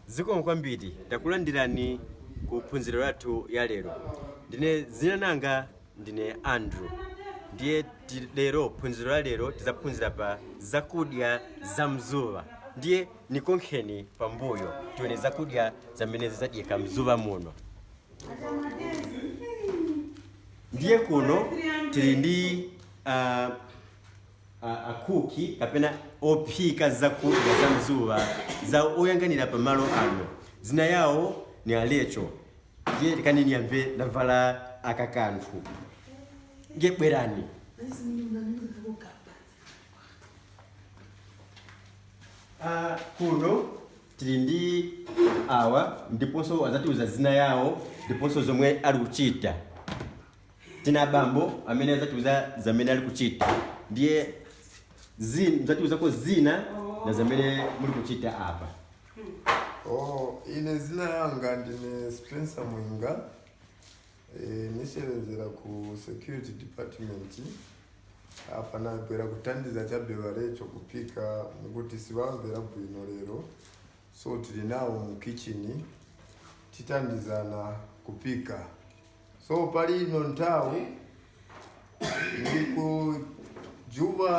Zikomo kwambiri takulandirani ku phunziro lathu ya lero. Ndine zina langa ndine Andrew. Ndiye ti- lero phunziro la lero tizaphunzira pa zakudya za mzuva. Ndiye nikonkheni pambuyo tione zakudya zamene zizadyeka mzuva muno. Ndiye kuno tili ndi uh, akuki kapena ophika zakudya za mzuva ndiwo oyanganira pa malo ano zina yawo ni a Rachel ndiye kanini yambe ndavala aka kanthu ndiye bwerani Ah, kuno tili ndi awa ndiponso azatiuza zina yawo ndiponso zomwe ali kuchita tili na bambo amene adzatiuza zamene ali kuchita ndiye zi- mdzatiuzako zina na zamene muli kuchita apa Oh, ine zina yanga ndine Spencer Mwinga eh, nisewenzera ku security department apa nabwera kuthandiza chabe ba Rachel kupika mukuti sivamvera bwino lero so tili nawo mu kitchen tithandizana kupika So pali ino nthawi ndikujuba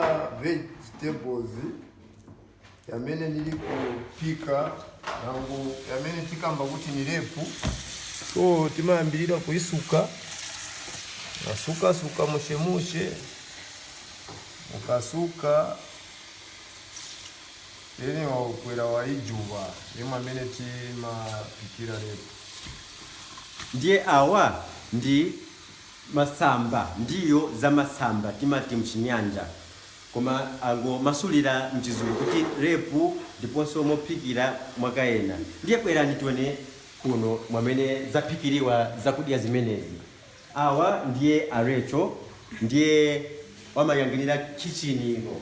vegetables yamene nili kupika nangu yamene tikamba kuti ni lepu so timayambirira kuisuka nasukasuka mushemushe mukasuka Eni wa ukwera wa ijuba mwamene timaphikira repu. Ndiye awa ndi masamba, ndiwo za masamba timati m'Chinyanja. Koma angomasulira m'Chizungu kuti repu ndiponso mophikira mwake ena. Ndiye bwerani tione kuno mwamene zaphikiriwa zakudya zimenezi. Awa ndiye a Rachel, ndiye wamayanganira khitchini ino.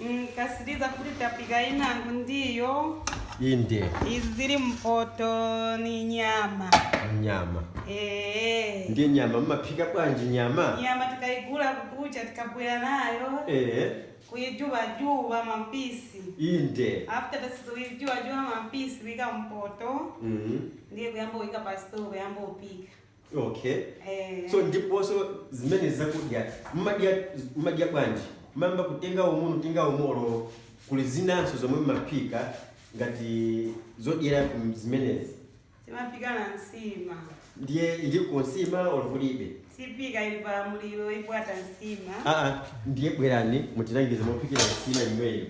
Mm, tasiliza kuti tapika inangu ndiyo inde izi zili mpoto ni nyama nyama ee ndi nyama mmaphika bwanji nyama nyama tikaigula kukucha tikabwera nayo ee kuijubajuba mampisi inde after tasikuijubajuba mampisi wika mpoto Mhm. ndiye kuyamba uika pasito kuyamba upika Okay. Eh. So ndiponso zimenezi zakudya mmadya mmadya bwanji? Mamba kutenga umu kutenga umolo kuli zinanso zomwe mmaphika ngati zodyera ku zimenezi. Timaphika na nsima. Ndiye iliko nsima olo kulibe. Siphika ili pa mulilo ipwata nsima. Ah ah ndiye bwerani mutilangiza mophikira nsima imweyo.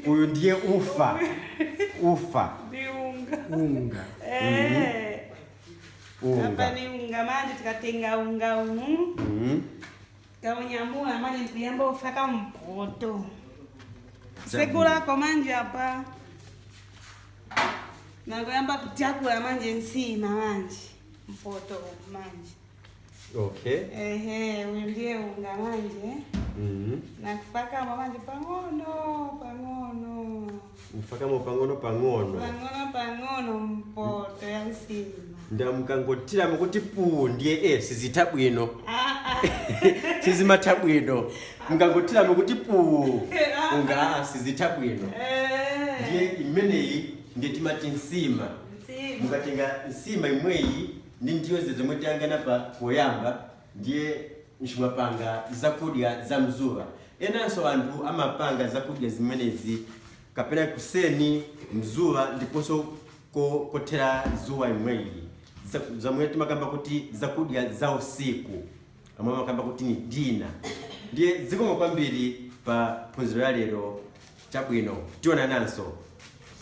uyu ndiye ufa ufa ndi unga unga Eh, apa unga ni unga manje tikatenga unga umu Mhm. kaunyamula manje ndikuyamba ufaka mpoto segulako manje apa nakuyamba kutyakula manje nsima manje mpoto umu manje okay ehe uyu ndiye unga manje Mhm. nikufakamo manje pang'ono pang'ono ufakamo pang'ono pang'ono pang'ono pang'ono mpoto ya msima ndiye mukangotiramo kuti puu ndiye e sizitha bwino sizimatha bwino mukangotiramo kuti puu unga a sizitha bwino ndiye imeneyi ndiye timati nsima mukatenga nsima imweyi ndi ndiyo zija zomwe tayang'ana pa poyamba ndiye timapanga zakudya za mzuba enanso anthu amapanga zakudya zimenezi kapena kuseni mzuba ndiponso ko kothera zuwa imweyi zamwe timakamba kuti zakudya za usiku amwe amakamba kuti ni dina ndiye zikomo kwambiri pa phunziro la lero chabwino tionananso